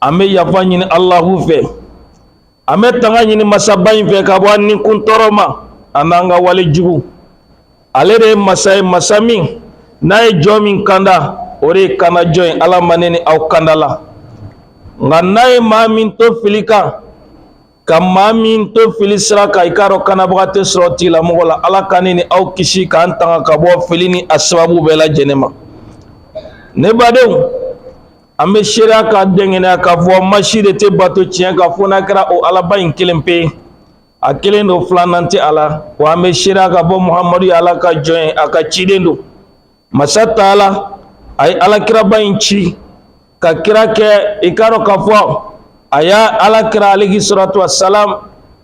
an bɛ yafa ɲini alahu fɛ an bɛ tanga ɲini masaba in fɛ ka bɔ an ni kun tɔɔrɔ ma a n'an ka wale jugu ale de ye masa ye masa min n'a ye jɔn min kanda o de ye kandajɔn ye ala ma ne ni aw kandala nka n'a ye maa min to fili kan ka maa min to fili sira kan i k'a dɔn kanabaga tɛ sɔrɔ tigilamɔgɔ la ala ka ne ni aw kisi k'an tanga ka bɔ fili ni a sababu bɛɛ lajɛlen ma ne badenw An bɛ seereya k'a dɛngɛnɛya k'a fɔ maa si de tɛ bato tiɲɛ kan fo n'a kɛra o Alaba in kelen pe ye, a kelen don filanan tɛ a la, wa an bɛ seereya k'a fɔ Muhamadu ye Ala ka jɔn ye, a ka ciden don, masa taala a ye alakiraba in ci ka kira kɛ, i k'a dɔn k'a fɔ a y'a alakira alehi salatu wa salamu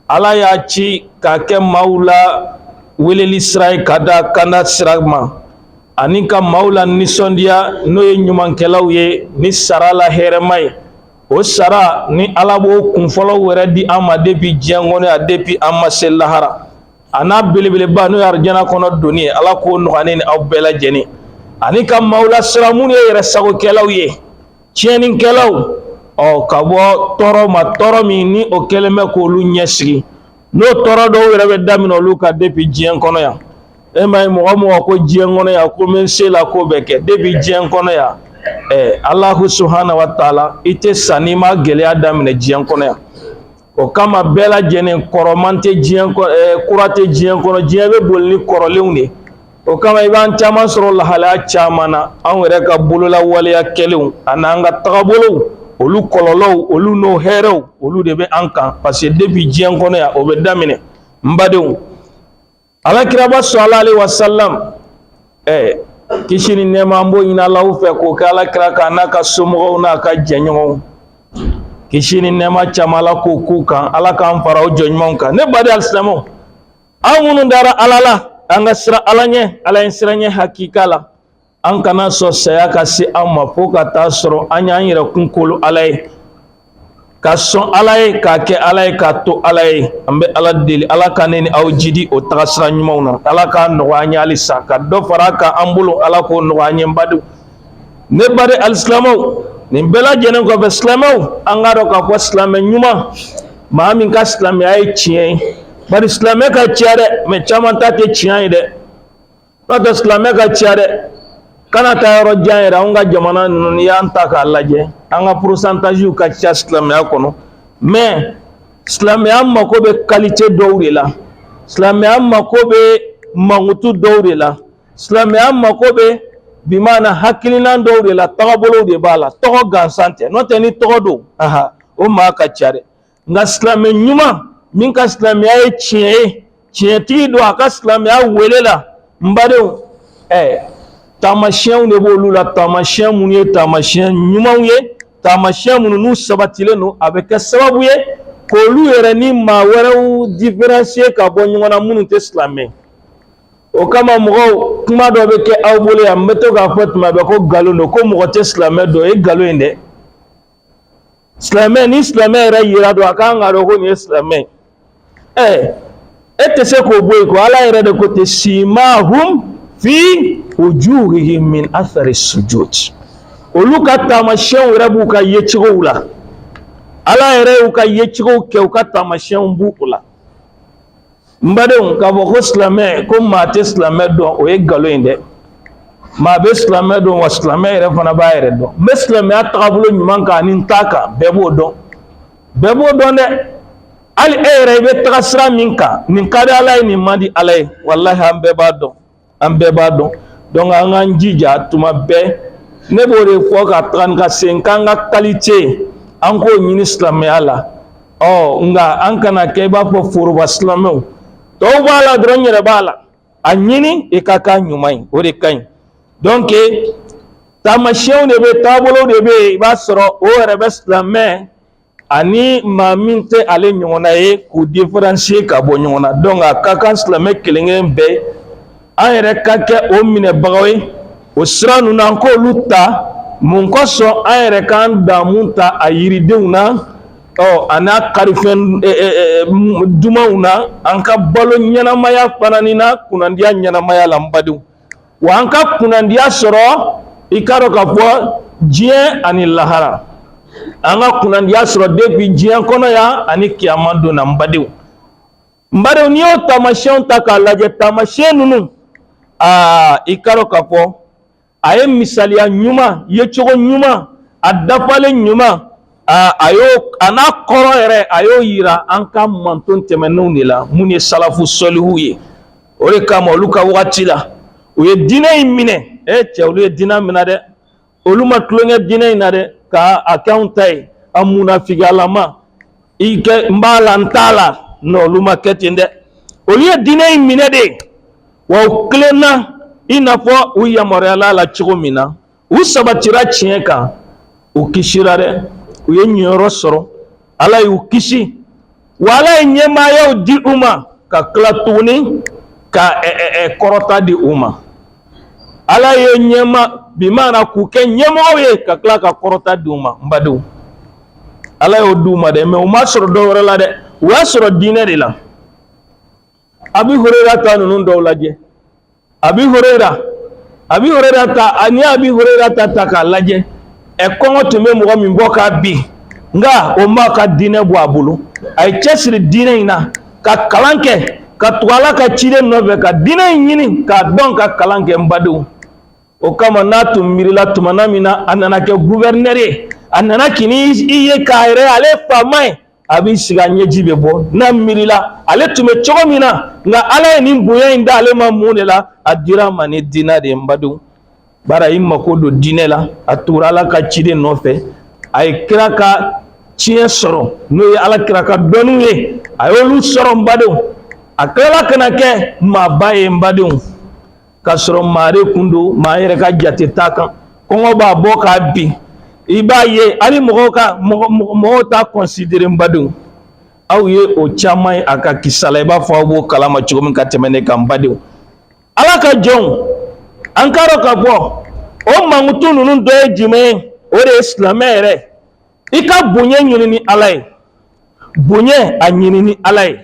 Ala y'a ci k'a kɛ maaw la weleli sira ye ka taa kanda sira ma. ani ka maaw lanisɔndiya n'o ye ɲumankɛlaw ye ni sara la hɛrɛma ye o sara ni ala b'o kunfɔlɔ yɛrɛ di an ma depuis diɲɛ kɔnɔ yan depuis an ma se lahara a n'a belebeleba n'o ye arijana kɔnɔ donni ye ala k'o nɔgɔya ne ni aw bɛɛ lajɛlen ani ka maaw lasiran minnu ye yɛrɛ sagokɛlaw ye tiɲɛnikɛlaw ɔ ka bɔ tɔɔrɔ ma tɔɔrɔ min ni o kɛlen bɛ k'olu ɲɛsigi n'o tɔɔrɔ dɔw yɛrɛ bɛ daminɛ olu kan depuis diɲɛ kɔnɔ yan e m'a ye mɔgɔ o mɔgɔ ko diɲɛ kɔnɔ yan ko n bɛ n se la ko bɛɛ kɛ depuis diɲɛ kɔnɔ yan ɛɛ Alahu subhana wa taala i tɛ sa n'i ma gɛlɛya daminɛ diɲɛ kɔnɔ yan o kama bɛɛ lajɛlen kɔrɔman tɛ diɲɛ ko kura tɛ diɲɛ kɔnɔ diɲɛ bɛ boli ni kɔrɔlenw de ye o kama i b'an caman sɔrɔ lahalaya caman na anw yɛrɛ ka bolola waleya kɛlenw a n'an ka tagabolow olu kɔlɔlɔw olu n'o hɛrɛw olu de bɛ an kan parce que depuis diɲɛ kɔnɔ yan o bɛ daminɛ n badenw alakiraba salalahu alehi wasalam ɛɛ kisi ni nɛɛma an b'o ɲini alahu fɛ k'o kɛ alakira kan n'a ka somɔgɔw n'a ka jɛɲɔgɔnw kisi ni nɛɛma caman ala k'o k'u kan ala k'an fara o jɔn ɲumanw kan ne baden alisilamɛw an minnu dara ala la an ka siran ala ɲɛ ala ɲɛsiranɲɛ hakika la an kana sɔn saya ka se an ma fo ka taa sɔrɔ an y'an yɛrɛ kun kolo ala ye ka sɔn ala ye k'a kɛ ala ye k'a to ala ye an bɛ ala deli ala ka ne ni aw jidi o tagasira ɲumanw na ala k'a nɔgɔya an ye halisa ka dɔ far'a kan an bolo ala k'o nɔgɔya an ye n badenw ne baden alisilamɛw nin bɛɛ lajɛlen kɔfɛ silamɛw an k'a dɔn k'a fɔ silamɛ ɲuman maa min ka silamɛya ye tiɲɛ ye bari silamɛ ka ca dɛ mɛ caman ta tɛ tiɲɛ ye dɛ n'o tɛ silamɛ ka ca dɛ kana taa yɔrɔ jan yɛrɛ anw ka jamana ninnu n'i y'an ta k'a lajɛ an ka porosantaziw ka ca silamɛya kɔnɔ mɛ silamɛya mako bɛ kalite dɔw de la silamɛya mako bɛ mankutu dɔw de la silamɛya mako bɛ bi maana hakilinan dɔw de la tagabolow de b'a la tɔgɔ gansan tɛ n'o tɛ ni tɔgɔ don aha o maa ka ca dɛ nka silamɛ ɲuman min ka silamɛya ye tiɲɛ ye tiɲɛtigi don a ka silamɛya wele la n badenw ɛɛ eh, taamasiyɛnw de b'olu la taamasiyɛn minnu ye taamasiyɛn ɲumanw ye taamasiyɛn minnu n'u sabatilen don a bɛ kɛ sababu ye k'olu yɛrɛ ni maa wɛrɛw différencier ka bɔ ɲɔgɔn na minnu tɛ silamɛ o kama mɔgɔw kuma dɔ bɛ kɛ aw bolo yan n bɛ to k'a fɔ tuma bɛɛ ko nkalon don ko mɔgɔ tɛ silamɛ dɔn o ye nkalon ye dɛ silamɛ ni silamɛ yɛrɛ yɛrɛ don a ka kan ka dɔn ko nin ye silamɛ ye ɛ e tɛ se k'o bɔ yen ko ala yɛrɛ de ko ten simahum fi wujuhihim min athari sujud olu ka taamasiyɛnw yɛrɛ b'u ka yecogow la ala yɛrɛ y'u ka yecogow kɛ u ka taamasiyɛnw b'o la n badenw k'a fɔ ko silamɛ ko maa tɛ silamɛ dɔn o ye nkalon ye dɛ maa bɛ silamɛ dɔn wa silamɛ yɛrɛ fana b'a yɛrɛ dɔn n bɛ silamɛya tagabolo ɲuman kan ani n t'a kan bɛɛ b'o dɔn bɛɛ b'o dɔn dɛ hali e yɛrɛ i bɛ taga sira min kan nin ka di ala ye nin man di ala ye walahi an bɛɛ b'a dɔn an bɛɛ b'a dɔn donc an k'an jija tuma bɛɛ ne b'o de fɔ ka taga ni ka segin k'an ka qualité an k'o ɲini silamɛya la ɔ nka an kana kɛ i b'a fɔ foroba silamɛw tɔw b'a la dɔrɔn n yɛrɛ b'a la a ɲini i ka k'a ɲuman ye o de ka ɲi donc taamasiyɛnw de bɛ taabolow de bɛ yen i b'a sɔrɔ o yɛrɛ bɛ silamɛ ani maa min tɛ ale ɲɔgɔnna ye k'u différencier ka bɔ ɲɔgɔn na donc a ka kan silamɛ kelenkelen bɛɛ an yɛrɛ ka kɛ o minɛbagaw ye o sira ninnu an k'olu ta mun kosɔn an yɛrɛ k'an damu ta a yiridenw na ɔ a n'a karifɛn e, e, e, dumanw na an ka balo ɲɛnamaya fana nin na kunnandiya ɲɛnamaya la n badenw wa an ka kunnandiya sɔrɔ i k'a dɔn k'a fɔ diɲɛ ani lahara an ka kunnandiya sɔrɔ depuis diɲɛ kɔnɔ yan ani kiyama don na n badenw n badenw n'i y'o taamasiyɛnw ta k'a lajɛ taamasiyɛn ninnu aa i k'a dɔn k'a fɔ a ye misaliya ɲuman yecogo ɲuman a dafalen ɲuman a y'o a n'a kɔrɔ yɛrɛ a y'o yira an ka mantɔn tɛmɛnenw de la minnu ye salafu sɔlihu ye o de kama olu ka wagati la u ye diinɛ in minɛ e cɛ olu ye diinɛ minɛ dɛ olu ma tulon kɛ diinɛ in na dɛ ka a kɛ anw ta ye a munafigiyalama i kɛ n b'a la n t'a la non olu ma kɛ ten dɛ olu ye diinɛ in minɛ de wa u tilenna i n'a fɔ u yamaruyala la cogo min na u sabatira tiɲɛ kan u kisira dɛ u ye ɲɛyɔrɔ sɔrɔ ala y'u kisi wa ala ye ɲɛmaayaw di u ma ka tila tuguni ka kɔrɔta di u ma ala ye ɲɛma bi mana k'u kɛ ɲɛmɔgɔw ye ka tila ka kɔrɔta di u ma n badenw ala y'o di u ma dɛ mais u m'a sɔrɔ dɔ wɛrɛ la dɛ u y'a sɔrɔ diinɛ de la abi hureyira ta ninnu dɔw lajɛ abi hureyira abi hureyira ta an ye abi hureyira ta ta k'a lajɛ ɛ kɔngɔ tun bɛ mɔgɔ min bɔ k'a bin nka o m'a ka diinɛ bɔ a bolo a y'i cɛsiri diinɛ in na ka kalan kɛ ka tugu ala ka ciden nɔfɛ ka diinɛ in ɲini k'a dɔn ka kalan kɛ n badenw o kama n'a tun miirila tumana min na a nana kɛ gouverneur ye a nana kini i ye k'a yɛrɛ ale ye faama ye a b'i sigi a ɲɛji bɛ bɔ n'a miirila ale tun bɛ cogo min na nka ala ye nin bonya in da ale ma mun de la a dira a ma ni diinɛ de ye n badenw bari a y'i mako don diinɛ la a tugura ala ka ciden nɔfɛ a ye kira ka tiɲɛ sɔrɔ n'o ye ala kira ka dɔnniw ye a y'olu sɔrɔ n badenw a tilala ka na kɛ maaba ye n badenw k'a sɔrɔ maa de kun don maa yɛrɛ ka jate t'a kan kɔngɔ b'a bɔ k'a bin i b'a ye hali mɔgɔw ka mɔgɔw t'a considérer n badenw aw ye o caman ye a ka kisa la i b'a fɔ aw b'o kalama cogo min ka tɛmɛ ne kan n badenw ala ka jɔnw an k'a dɔn k'a fɔ o mankutu ninnu dɔ ye jumɛn ye o de ye silamɛ yɛrɛ i ka bonya ɲini ni ala ye bonya a ɲini ni ala ye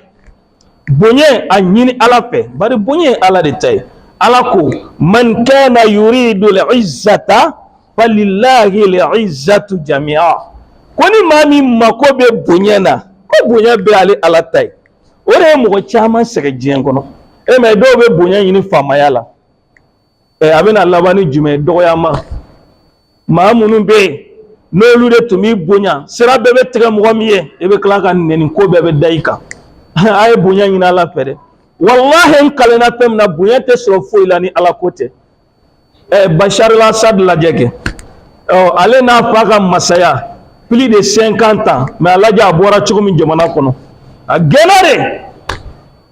bonya a ɲini ala fɛ bari bonya ye ala de ta ye ala ko man kana yuridu lizzata falilahi lizzatu jamia ko ni maa min mako bɛ bonya na ko bonya bɛɛ ale ala ta ye o de ye mɔgɔ caman sɛgɛn diɲɛ kɔnɔ ɛ mais dɔw bɛ bonya ɲini faamaya la ɛ a bɛna laban ni jumɛn ye dɔgɔyama maa minnu bɛ yen n'olu de tun b'i bonya sira bɛɛ bɛ tigɛ mɔgɔ min ye i bɛ tila ka nɛni ko bɛɛ bɛ da i kan a ye bonya ɲini ala fɛ dɛ walahi n kalenna fɛn min na bonya tɛ sɔrɔ foyi la ni ala ko tɛ ɛ bachar al-assad lajɛ kɛ ɔ ale n'a fa ka masaya plus de cinquante ans mais a lajɛ a bɔra cogo min jamana kɔnɔ a gɛnna de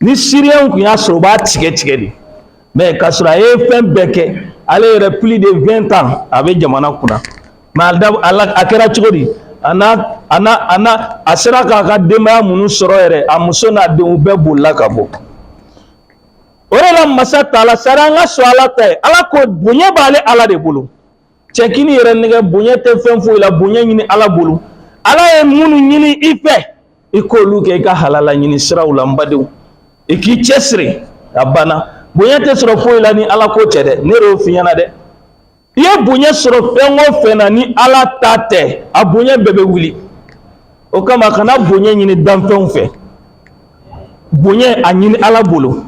ni siriyɛnw kun y'a sɔrɔ u b'a tigɛ tigɛ de mais k'a sɔrɔ a ye fɛn bɛɛ kɛ ale yɛrɛ plus de vingt ans a bɛ jamana kunna mais a kɛra cogo di a n'a a n'a a n'a a sera k'a ka denbaya minnu sɔrɔ yɛrɛ a muso n'a denw bɛɛ bolila ka bɔ o de la masa taala sari an ka sɔn ala ta ye ala ko bonya b'ale ala de bolo Cɛ kan'i yɛrɛ nɛgɛ bonya tɛ fɛn foyi la bonya ɲini ala bolo ala ye minnu ɲini i fɛ i k'olu kɛ i ka halala ɲini siraw la n badenw i k'i cɛsiri a banna bonya tɛ sɔrɔ foyi la ni ala ko tɛ dɛ ne y'o f'i ɲɛna dɛ i ye bonya sɔrɔ fɛn o fɛn na ni ala ta tɛ a bonya bɛɛ bɛ wuli o kama kana bonya ɲini danfɛnw fɛ bonya a ɲini ala bolo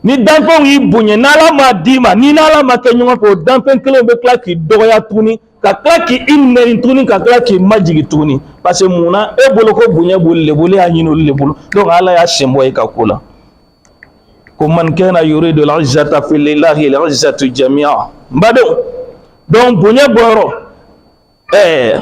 ni danfɛnw y'i bonya n'ala m'a d'i ma ni n'ala ma kɛ ɲɔgɔn fɛ o danfɛn kelen bɛ tila k'i dɔgɔya tuguni ka tila k'i nɛni tuguni ka tila k'i majigin tuguni parce que mun na e bolo ko bonya b'olu de bolo e y'a ɲini olu de bolo donc ala y'a sen bɔ e ka ko la ko man kana yuridu al-izzata falillahi al-izzatu jami'a n badenw donc bonya bɔyɔrɔ ɛɛ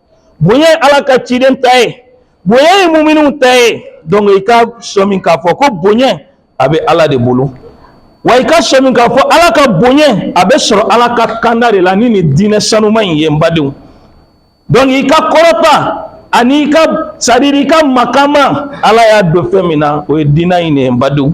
bonya ye ala ka ciden ta ye bonya ye muminiw ta ye donc i ka sɔmi k'a fɔ ko bonya a bɛ ala de bolo wa i ka sɔmi k'a fɔ ala ka bonya a bɛ sɔrɔ ala ka kanda de la ni nin diinɛ sanuma in ye n badenw donc i ka kɔrɔta ani i ka c'est-à-dire i ka makama ala y'a don fɛn min na o ye diinɛ in de ye n badenw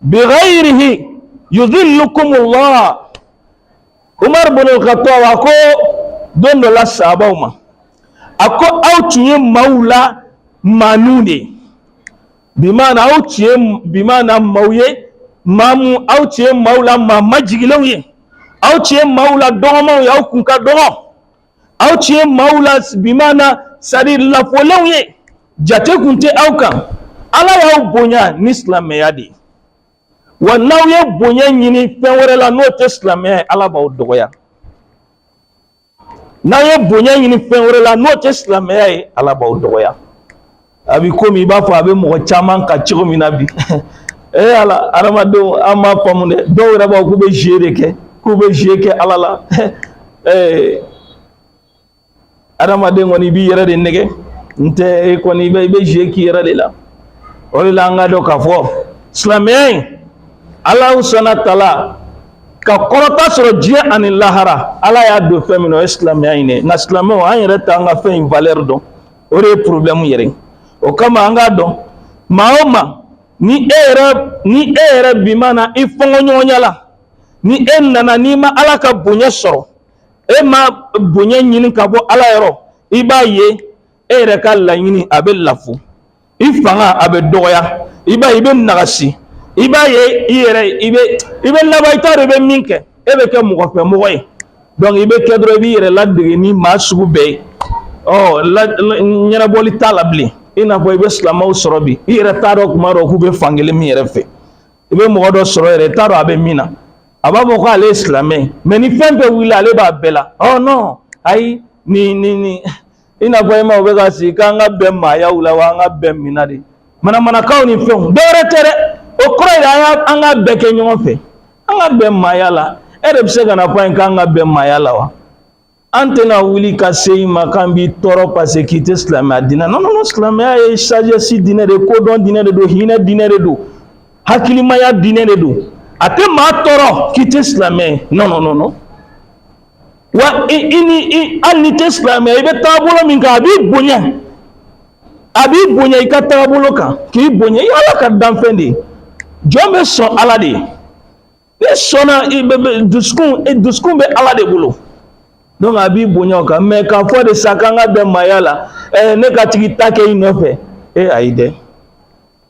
bighairihi yudhillukum Allah Umar bin al-Khattab a ko don dɔ la sahabaw ma a ko aw tun ye maaw la maaniw de ye bimaana aw tun ye bimaana maaw ye maa mun aw tun ye maaw la maa majigilenw ye aw tun ye maaw la dɔgɔmanw ye aw kun ka dɔgɔ aw tun ye maaw la bimaana c'est-à-dire lafulenw ye jate kun tɛ aw kan ala y'aw bonya ni silamɛya de ye wa n'aw ye bonya ɲini fɛn wɛrɛ la n'o tɛ silamɛya ye ala b'aw dɔgɔya n'aw ye bonya ɲini fɛn wɛrɛ la n'o tɛ silamɛya ye ala b'aw dɔgɔya a bɛ komi i b'a fɔ a bɛ mɔgɔ caman kan cogo min na bi ee ala adamadenw an m'a faamu dɛ dɔw yɛrɛ b'a fɔ k'u bɛ jeu de kɛ k'u bɛ jeu kɛ ala la ee adamaden kɔni i b'i yɛrɛ de nɛgɛ n tɛ e kɔni i bɛ i bɛ jeu k'i yɛrɛ de la o de la an k'a dɔn k'a fɔ silamɛya in ala subhanahu wa ta'ala ka kɔrɔta sɔrɔ diɲɛ ani lahara ala y'a don fɛn min na o ye silamɛya in de ye nka silamɛw an yɛrɛ t'an ka fɛn in valeur dɔn o de ye porobilɛmu yɛrɛ ye o kama an k'a dɔn maa o maa ni e yɛrɛ ni e yɛrɛ bimaana i fɔnkɔɲɔgɔnya la ni e nana n'i ma ala ka bonya sɔrɔ e ma bonya ɲini ka bɔ ala yɔrɔ i b'a ye e yɛrɛ ka laɲini a bɛ lafu i fanga a bɛ dɔgɔya i b'a ye i bɛ nagasi i b'a ye i yɛrɛ i bɛ i bɛ laban i t'a dɔn i bɛ min kɛ e bɛ kɛ mɔgɔ fɛ mɔgɔ ye i bɛ kɛ dɔrɔn i b'i yɛrɛ ladege ni maa sugu bɛɛ ye ɔ ɲɛnabɔli t'a la bilen i n'a fɔ i bɛ silamɛw sɔrɔ bi i yɛrɛ t'a dɔn kuma dɔ k'u bɛ fankelen min yɛrɛ fɛ i bɛ mɔgɔ dɔ sɔrɔ yɛrɛ i t'a dɔn a bɛ min na a b'a fɔ ko ale ye silamɛ ye mɛ ni fɛn bɛɛ wulila ale b'a bɛɛ la ɔ non ayi nin nin nin i n'a fɔ e maaw bɛ ka sigi k'an ka bɛn maayaw la wa an ka bɛn min na de manamanakanw ni fɛnw dɔwɛrɛ tɛ dɛ o kɔrɔ ye an ka an ka bɛɛ kɛ ɲɔgɔn fɛ an ka bɛn maaya la e de bɛ se ka na fɔ an ye k'an ka bɛn maaya la wa an tɛna wuli ka se i ma k'an b'i tɔɔrɔ paseke k'i tɛ silamɛya diinɛ non non silamɛya ye sagesse diinɛ de ye kodɔn diinɛ de don hinɛ diinɛ de don hakilimaya diinɛ de don a tɛ maa tɔɔrɔ k'i tɛ silamɛ ye non non non non wa i ni i hali n'i tɛ silamɛ i bɛ taabolo min kan a b'i bonya a b'i bonya i ka taabolo kan k'i bonya i ala ka danfɛn de ye jɔn b'i sɔn ala de b'i sɔnna i bɛ bɛ dusukun e, dusukun bɛ ala de bolo donc a b'i bonya o kan mɛ k'a fɔ de sa k'an ka bɛn maaya la ɛ eh, ne ka tigi ta kɛ i nɔfɛ e ayi dɛ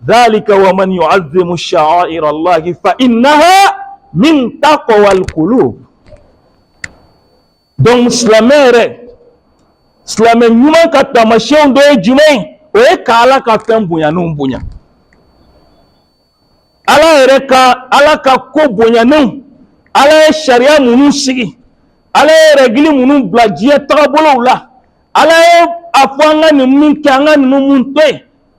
dhalika wa man yu'azzimu sha'air Allahi fa innaha min taqwa alqulub. Donc silamɛ yɛrɛ silamɛ ɲuman ka taamasiyɛnw dɔ ye jumɛn ye o ye ka Ala ka fɛn bonyanenw bonya Ala yɛrɛ ka Ala ka ko bonyanenw Ala ye sariya minnu sigi Ala ye règle minnu bila diɲɛ tagabolow la Ala ye a fɔ an ka nin min kɛ an ka ninnu mun to yen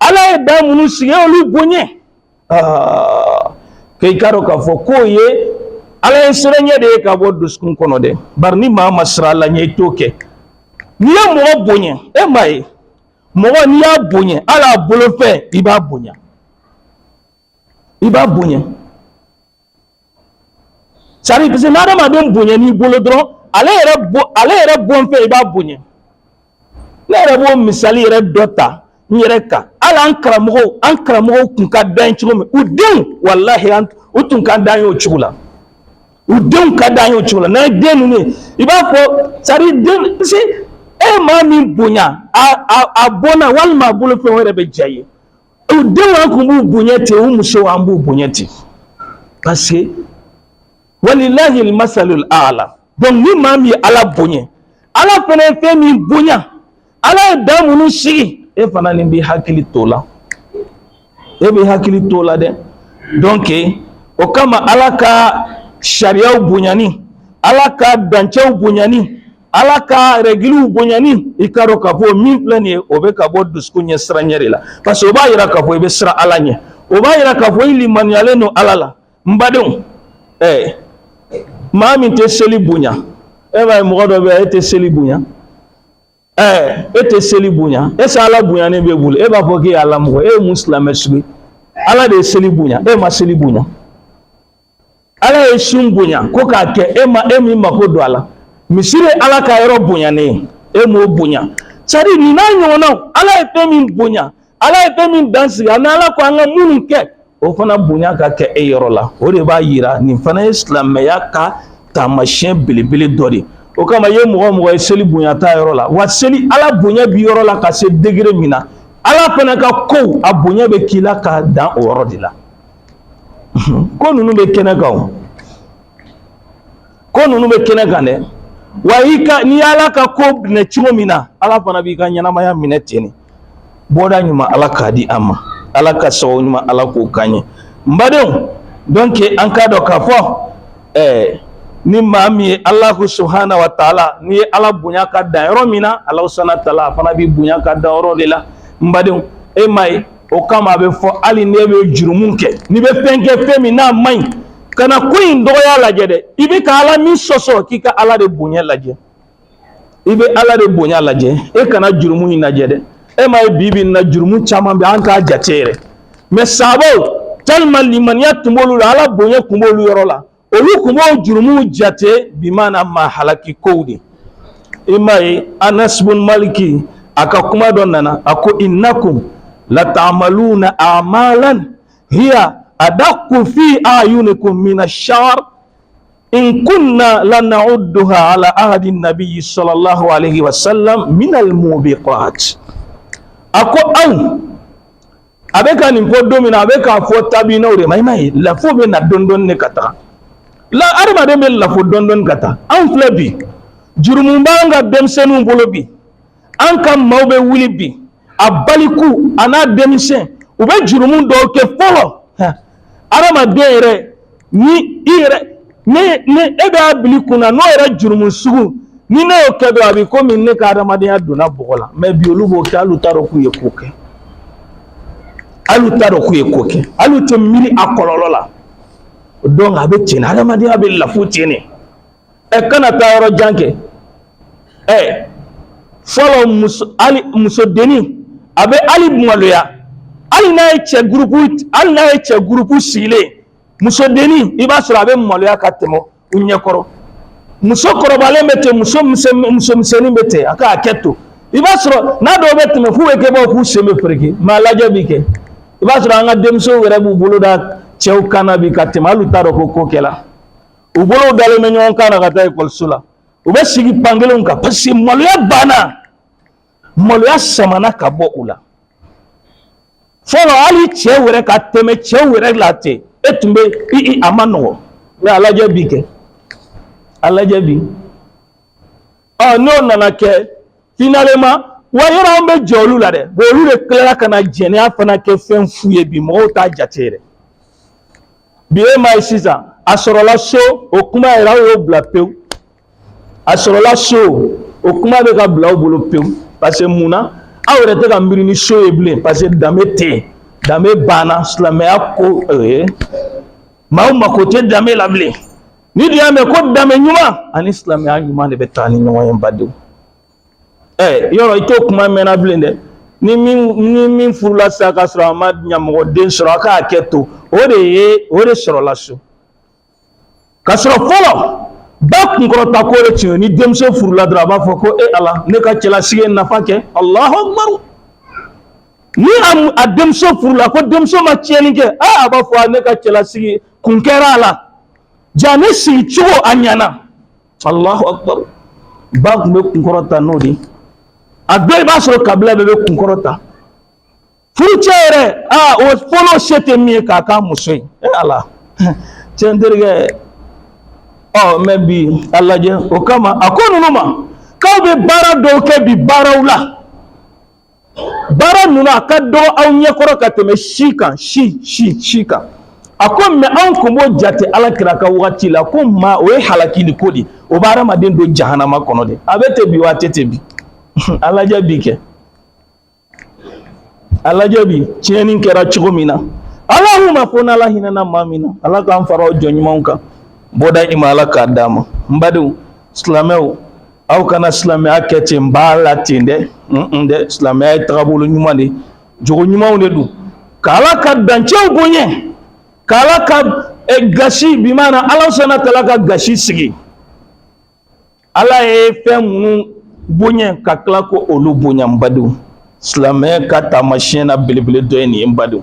ala ye dan minnu sigi olu bonya k'i k'a dɔn k'a fɔ k'o ye ala ɲɛsiranya de ye ka bɔ dusukun kɔnɔ dɛ bari ni maa ma siran ala ɲɛ i t'o kɛ n'i ye mɔgɔ bonya e m'a ye mɔgɔ n'i y'a bonya hali a bolofɛn i b'a bonya i b'a bonya sari parce que n'adamaden bonyan'i bolo dɔrɔn ale yɛrɛ bo ale yɛrɛ bolofɛn i b'a bonya ne yɛrɛ b'o misali yɛrɛ dɔ ta n yɛrɛ kan hali an karamɔgɔw an karamɔgɔw kun ka d'an cogo min u denw walahi an u tun ka d'an ye o cogo la u denw ka d'an ye o cogo la n'an ye den ninnu ye i b'a fɔ sari den parce que e maa min bonya a a a bɔnna walima a bolofɛn o yɛrɛ bɛ diya i ye u denw an kun b'u bonya ten u musow an b'u bonya ten paseke walilahi almasalul a'la donc ni maa min ye ala bonya ala fana ye fɛn min bonya ala ye dan minnu sigi e fana nin b'i hakili t'o la e b'i hakili t'o la dɛ donc o kama ala ka sariyaw bonyani ala ka dancɛw bonyani ala ka rɛgiliw bonyani i k'a dɔn k'a fɔ min filɛ nin ye o bɛ ka bɔ dusukun ɲɛ siran ɲɛ de la parce que o b'a yira k'a fɔ i bɛ siran ala ɲɛ o b'a yira k'a fɔ i limaniyalen don ala la n badenw ɛɛ maa min tɛ seli bonya e m'a ye mɔgɔ dɔ bɛ yen e tɛ seli bonya ɛɛ e tɛ seli bonya est-ce ala bonyanen b'e bolo e b'a fɔ k'e ye ala mɔgɔ e ye mun silamɛ sugu ye ala de ye seli bonya e ma seli bonya ala ye sun bonya ko k'a kɛ e ma e min mako don a la misiri ye ala ka yɔrɔ bonyanen ye e m'o bonya sari nin n'a ɲɔgɔnnaw ala ye fɛn min bonya ala ye fɛn min dan sigi ani ala ko an ka minnu kɛ o fana bonya ka kɛ e yɔrɔ la o de b'a yira nin fana ye silamɛya ka taamasiyɛn belebele dɔ de o kama i ye mɔgɔ mɔgɔ ye seli bonya t'a yɔrɔ la wa seli ala bonya b'i yɔrɔ la ka se degere min na ala fana ka kow a bonya bɛ k'i la ka dan o yɔrɔ de la ko ninnu bɛ kɛnɛ kan o ko ninnu bɛ kɛnɛ kan dɛ wa i ka n'i y'ala ka ko minɛ cogo min na ala fana b'i ka ɲɛnamaya minɛ ten de bɔda ɲuman ala k'a di an ma ala ka so ɲuman ala k'o k'an ye n badenw donc an k'a dɔn k'a fɔ ɛɛ ni maa min ye allahu subhana wa taala n'i ye ala bonya ka dan yɔrɔ min na ala subhana taala a fana b'i bonya ka dan yɔrɔ de la n badenw e m'a ye o kama a bɛ fɔ hali n'e bɛ jurumu kɛ n'i bɛ fɛn kɛ fɛn min n'a man ɲi kana ko in dɔgɔya lajɛ dɛ i bɛ ka ala min sɔsɔ k'i ka ala de bonya lajɛ i bɛ ala de bonya lajɛ e kana jurumu in lajɛ dɛ e m'a ye bi bi in na jurumu caman bɛ an t'a jate yɛrɛ mɛ sahabaw tellement limaniya tun b'olu la ala bonya tun b'olu yɔrɔ la olu tun b'o jurumu jate bimana maa halaki kow de i m'a ye anas bun maliki a ka kuma dɔ nana a ko innakum latamaluna amalan hiya adaqu fi ayunikum mina shar in kunna lanauduha ala ahadi nabiyi sallallahu alaihi wasallam min almubiqat a ko anw a bɛ ka nin fɔ don min na a bɛ k'a fɔ tabiinaw de ma i m'a ye lafo bɛ na dɔɔni dɔɔni de ka taga la adamaden bɛ lafo dɔɔni dɔɔni ka taa anw filɛ bi jurumu b'an ka denmisɛnninw bolo bi an ka maaw bɛ wuli bi a baliku a n'a denmisɛn u bɛ jurumu dɔw kɛ fɔlɔ adamaden yɛrɛ ni i yɛrɛ ne ne e b'a bil'i kun na n'o yɛrɛ jurumu sugu ni ne y'o kɛ dɔrɔn a bɛ komi ne ka adamadenya donna bɔgɔ la mɛ bi olu b'o kɛ hali u t'a dɔn k'u ye ko kɛ hali u t'a dɔn k'u ye ko kɛ hali u tɛ miiri a kɔlɔlɔ la donc a bɛ tiɲɛ adamadenya bɛ lafu tiɲɛ de ɛ kana taa yɔrɔ jan kɛ ɛ fɔlɔ musodenni a bɛ hali maloya hali n'a ye cɛ gurupu sigilen musodenni i b'a sɔrɔ a bɛ maloya ka tɛmɛ u ɲɛkɔrɔ muso kɔrɔbalen bɛ ten muso misɛnnin bɛ ten a k'a kɛ to i b'a sɔrɔ n'a dɔw bɛ tɛmɛ f'u bɛ kɛ bɔ k'u sen bɛ fereke mɛ a lajɛ bi kɛ i b'a sɔrɔ an ka denmusow yɛrɛ b'u bolo da cɛw kan na bi ka tɛmɛ hali u t'a dɔn ko ko kɛra u bolow dalen bɛ ɲɔgɔn kan na ka taa ekɔliso la u bɛ sigi ban kelenw kan paseke maloya banna maloya samana ka bɔ u la fɔlɔ hali cɛ wɛrɛ ka tɛmɛ cɛ wɛrɛ la ten e tun bɛ i i a man nɔgɔ mɛ a lajɛ bi kɛ a lajɛ bi ɔ n'o nana kɛ finalement wa yɛrɛ an bɛ jɛ olu la dɛ olu de tilara ka na jɛnɛya fana kɛ fɛn fu ye bi mɔgɔw t'a jate yɛrɛ bi e m'a ye sisan a sɔrɔla so o kuma yɛrɛ aw y'o bila pewu a sɔrɔla so o kuma bɛ ka bila aw bolo pewu parce que mun na aw yɛrɛ tɛ ka miiri ni so ye bilen parce que danbe tɛ yen danbe banna silamɛya ko ee maaw mako tɛ danbe la bilen n'i dun y'a mɛn ko danbe ɲuman ani silamɛya ɲuman de bɛ taa ni ɲɔgɔn ye badenw ɛ yɔrɔ i t'o kuma mɛnna bilen dɛ ni min furula sa ka sɔrɔ a ma ɲamɔgɔden sɔrɔ a k'a kɛ to o de ye o de sɔrɔla so ka sɔrɔ fɔlɔ ba kunkɔrɔta ko de tun y'o ni denmuso furula dɔrɔn a b'a fɔ ko e ala ne ka cɛlasigi nafa kɛ alahu akubaru ni a denmuso furula ko denmuso ma tiɲɛni kɛ a a b'a fɔ ne ka cɛlasigi kun kɛra ala ja ne sigi cogo a ɲɛna Allahu akbar ba tun bɛ kunkɔrɔta n'o de a dɔ i b'a sɔrɔ kabila bɛɛ bɛ kunkɔrɔta furucɛ yɛrɛ aa o fɔlɔ se tɛ min ye k'a ka muso ye e ala tiɲɛ terikɛ ɔ mɛ bi a lajɛ o kama a ko ninnu ma k'aw bɛ baara dɔw kɛ bi baaraw la baara ninnu a ka dɔgɔ aw ɲɛkɔrɔ ka tɛmɛ si kan si kan a ko mɛ anw tun b'o jate ala kira ka waati la ko maa o ye halakini ko de o bɛ hadamaden don jahanama kɔnɔ de a bɛ ten bi wa a tɛ ten bi a lajɛ bi kɛ a lajɛ bi tiɲɛni kɛra cogo min na Allahumma fo n'ala hinɛna maa min na ala k'an fara o jɔn ɲumanw kan bɔda i ma ala k'a d'a ma n badenw silamɛw aw kana silamɛya kɛ ten n b'a la ten dɛ n dɛ silamɛya ye tagabolo ɲuman de jogo ɲumanw de don k'ala ka dancɛw bonya k'ala ka gasi bi mana ala subhanahu wa ta'ala ka gasi sigi ala ye fɛn minnu bonya ka tila k'olu bonya n badenw silamɛya ka taamasiyɛn na belebele dɔ ye nin ye n badenw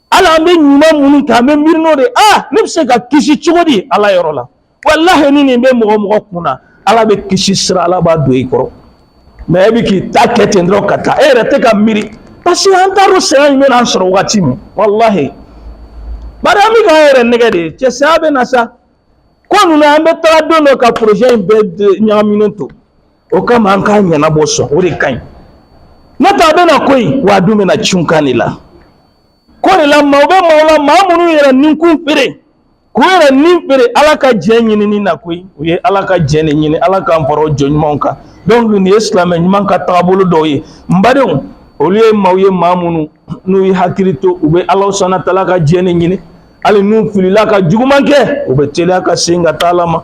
Ala an bɛ ɲuman minnu kɛ an bɛ miiri nin de aa ne bɛ se ka kisi cogo di ala yɔrɔ la walayi ni nin bɛ mɔgɔ mɔgɔ kun na ala bɛ kisi sira ala b'a don i kɔrɔ mais e bɛ k'i ta kɛ ten dɔrɔn ka taa e yɛrɛ tɛ ka miiri parce que an t'a dɔn saya in bɛna an sɔrɔ waati min walayi bari an bɛ k'an yɛrɛ nɛgɛn de cɛ saya bɛ na sa ko ninnu an bɛ taa don dɔ ka projet in bɛɛ ɲagaminen to o kama an k'a ɲɛnabɔ sɔn o de ka ɲi n'o tɛ a bɛ na koyi wa a dun bɛna cun kan de la ko de la maaw bɛ maaw la maa minnu yɛrɛ nin kun feere k'u yɛrɛ nin feere ala ka jɛn ɲinini na koyi u ye ala ka jɛn de ɲini ala k'an fara o jɔn ɲumanw kan donc nin ye silamɛ ɲuman ka tagabolo dɔw ye n badenw olu ye maaw ye maa minnu n'u ye hakili to u bɛ ala subahana taala ka jɛn de ɲini hali n'u filila ka juguman kɛ u bɛ teliya ka segin ka taa ala ma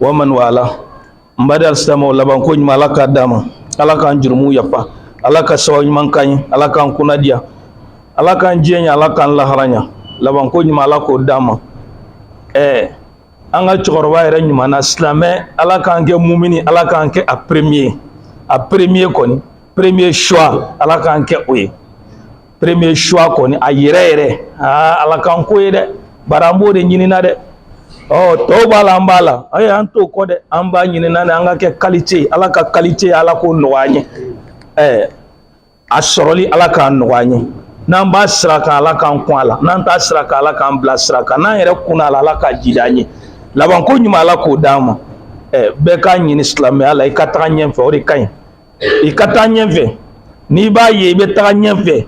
wa man wala n baden alisilamaw laban ko ɲuman ala k'a d'an ma ala k'an jurumuw yafa ala ka sababu ɲuman k'an ye ala k'an kunna diya ala k'an diɲɛ ɲa ala k'an lahara ɲa laban ko ɲuman ala k'o d'an ma ɛɛ an ka cɛkɔrɔba yɛrɛ ɲuman na silamɛ ala k'an kɛ mumini ala k'an kɛ a premier a premier kɔni premier choix ala k'an kɛ o ye premier choix kɔni a yɛrɛ yɛrɛ aa ala k'an k'o ye dɛ bari an b'o de ɲinina dɛ ɔ tɔw b'a la an b'a la ayi an t'o kɔ dɛ an b'a ɲinina dɛ an ka kɛ qualité ala ka qualité ala k'o nɔgɔya an ye ɛɛ a sɔrɔli ala k'a nɔgɔya an ye n'an b'a sira kan ala k'an kun a la n'an t'a sira kan ala k'an bila sira kan n'an yɛrɛ kunna a la ala k'a jiidi an ye labanko ɲuman ala k'o d'an ma ɛɛ bɛɛ k'a ɲini silamɛya la i ka taga ɲɛfɛ o de ka ɲi i ka taa ɲɛfɛ n'i b'a ye i bɛ taga ɲɛfɛ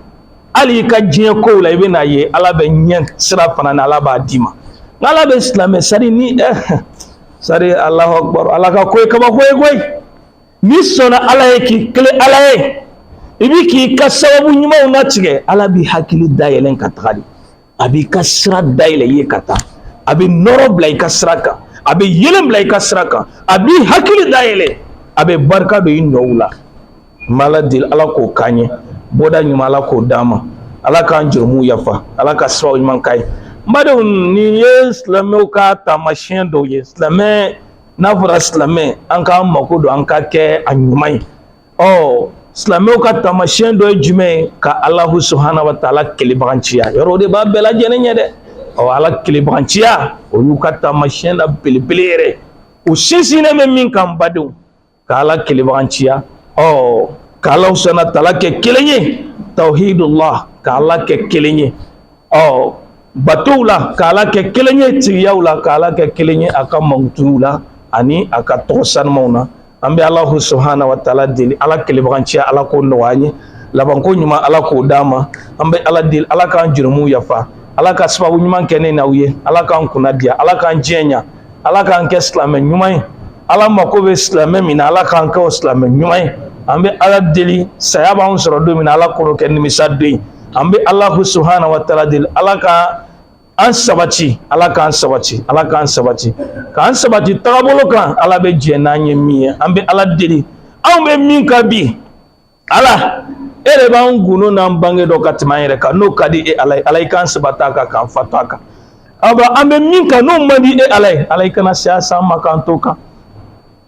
hali i ka diɲɛ kow la i bɛ n'a ye ala bɛ ɲɛ sira fana na ala b'a d'i ma ala bɛ silamɛ sari ni eh, sari alahu akbar ala ka ko ye kabako ye koyi n'i sɔnna ala ye k'i kelen ala ye i bi k'i ka sababu ɲumanw latigɛ ala b'i hakili dayɛlɛn ka taga de a b'i ka sira dayɛlɛ i ye ka taa a bɛ nɔrɔ bila i ka sira kan a bɛ yeelen bila i ka sira kan a b'i hakili dayɛlɛ a bɛ barika don i nɔw la n bɛ ala deli ala k'o k'an ye bɔda ɲuman ala k'o d'an ma ala k'an jurumuw yafa ala ka sababu ɲuman k'an ye n badenw nin ye silamɛw ka taamasiyɛn dɔw ye silamɛ n'a fɔra silamɛ an k'an mako don an ka kɛ a ɲuman ye ɔ silamɛw ka taamasiyɛn dɔ ye jumɛn ye ka alahu subahana wa taala kelebaganciya yɔrɔ o de b'a bɛɛ lajɛlen ɲɛ dɛ ɔ ala kelebaganciya o y'u ka taamasiyɛn na belebele yɛrɛ u sinsinnen bɛ min kan badenw ka ala kelebaganciya ɔ ka alahu subahana taala kɛ kelen ye tawhidullah ka ala kɛ kelen ye ɔ batow la ka ala kɛ kelen ye tigiyaw la ka ala kɛ kelen ye a ka mankutuw la ani a ka tɔgɔ sanumaw na an bɛ alahu subhana wa taala deli ala kelebaganciya ala k'o nɔgɔya an ye labanko ɲuman ala k'o d'an ma an bɛ ala deli ala k'an jurumuw yafa ala ka sababu ɲuman kɛ ne n'aw ye ala k'an kunna diya ala k'an diɲɛ ɲa ala k'an kɛ silamɛ ɲuman ye ala mako bɛ silamɛ min na ala k'an kɛ o silamɛ ɲuman ye an bɛ ala deli saya b'anw sɔrɔ don min na ala kan'o kɛ nimisa don ye an bɛ alahu subhana wa taala deli ala ka an sabati ala k'an sabati ala k'an sabati k'an sabati tagabolo kan ala bɛ jɛn n'an ye min ye an bɛ ala deli anw bɛ min kan bi ala e de b'an gundo n'an bange dɔn ka tɛmɛ an yɛrɛ kan n'o ka di e ala ye ala i k'an sabati a kan k'an fatu a kan aw an bɛ min kan n'o man di e ala ye ala i kana saya s'an ma k'an t'o kan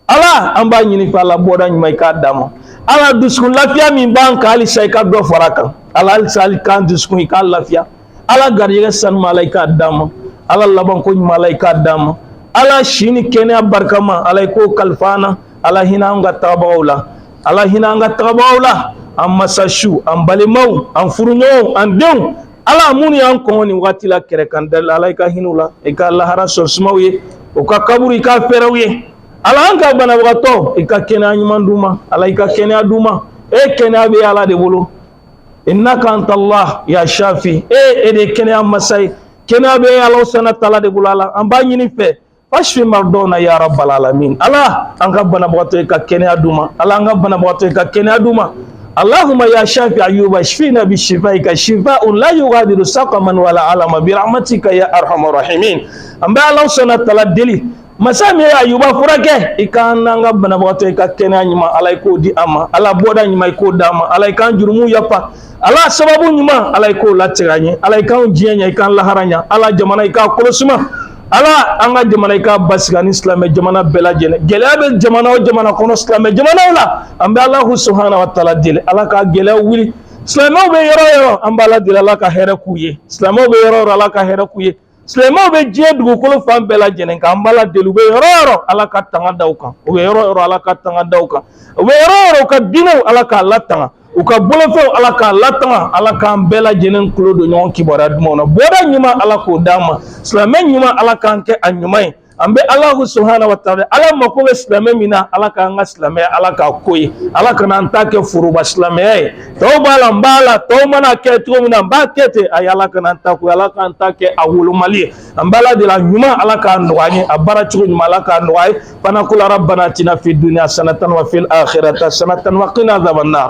Ala an b'a ɲini i fɛ ala bɔda ɲuman i k'a d'an ma ala dusukun lafiya min b'an kan halisa i ka dɔ fara a kan ala halisa ala i k'an dusukun i k'a lafiya ala garijɛgɛ sanuman ala i k'a d'an ma ala labanko ɲuman ala i k'a d'an ma ala si ni kɛnɛya barikama ala i k'o kalifa an na ala hinɛ an ka tagabagaw la ala hinɛ an ka tagabagaw la an masasu an balimaw an furuɲɔgɔnw an denw ala minnu y'an kɔn nin waati la kɛrɛ kan dali ala i ka hin'u la i ka lahara so suma u ye u ka kaburu i k'a fɛrɛ u ye ala an ka banabagatɔ i ka kɛnɛya ɲuman d'u ma ala i ka kɛnɛya d'u ma e kɛnɛya bɛ ala de bolo innaka anta allah ya shafi e e de kɛnɛya masa ye kɛnɛya bɛ ala subhana wa taala de bolo ala an b'a ɲini i fɛ Washfi mardana ya rabbal alamin ala an ka banabagatɔ i ka kɛnɛya d'u ma ala an ka banabagatɔ i ka kɛnɛya d'u ma allahumma ya shafi ayuba shfina bi shifaika shifaun la yughadiru saqaman wala alama bi rahmatika ya arhamar rahimin an bɛ ala subhana wa taala deli masa min ye ayuba furakɛ i ka n'an ka banabagatɔ i ka kɛnɛya ɲuman ala i k'o di an ma ala bɔda ɲuman i k'o d'an ma ala i k'an jurumu yafa ala sababu ɲuman ala i k'o latigɛ an ye ala i k'anw diɲɛ ɲɛ i k'an lahara ɲɛ ala jamana i k'a kɔlɔsima ala an ka jamana i k'a basigi ani silamɛ jamana bɛɛ lajɛlen gɛlɛya bɛ jamana o jamana kɔnɔ silamɛ jamanaw la an bɛ alahu subahana wa taala deli ala ka gɛlɛyaw wuli silamɛw bɛ yɔrɔ o yɔrɔ an b'ala deli ala ka hɛrɛ k'u ye silamɛw bɛ yɔrɔ o yɔrɔ ala ka hɛrɛ k'u ye silamɛw bɛ diɲɛ dugukolo fan bɛɛ lajɛlen kan an b'ala deli u bɛ yɔrɔ yɔrɔ ala ka tanga da u kan u bɛ yɔrɔ yɔrɔ ala ka tanga da u kan u bɛ yɔrɔ yɔrɔ u ka diinɛw ala k'a latanga u ka bolofɛnw ala k'a latanga ala k'an bɛɛ lajɛlen tulo don ɲɔgɔn kibaruya dumanw na bɔda ɲuman ala k'o d'an ma silamɛ ɲuman ala k'an kɛ a ɲuman ye an bɛ alahu subhana wa taala ala mako bɛ silamɛ min na ala k'an ka silamɛya ala k'a k'o ye ala kana an ta kɛ foroba silamɛya ye tɔw b'a la n b'a la tɔw man'a kɛ cogo min na n b'a kɛ ten ayi ala kana an ta k'o ala k'an ta kɛ a wolomalen ye an b'ala deli a ɲuman ala k'a nɔgɔya an ye a baara cogo ɲuman ala k'a nɔgɔya an ye fanaqulu rabbana atina fid dunya hasanatan wa fil akhirati hasanatan wa qina adhaban nar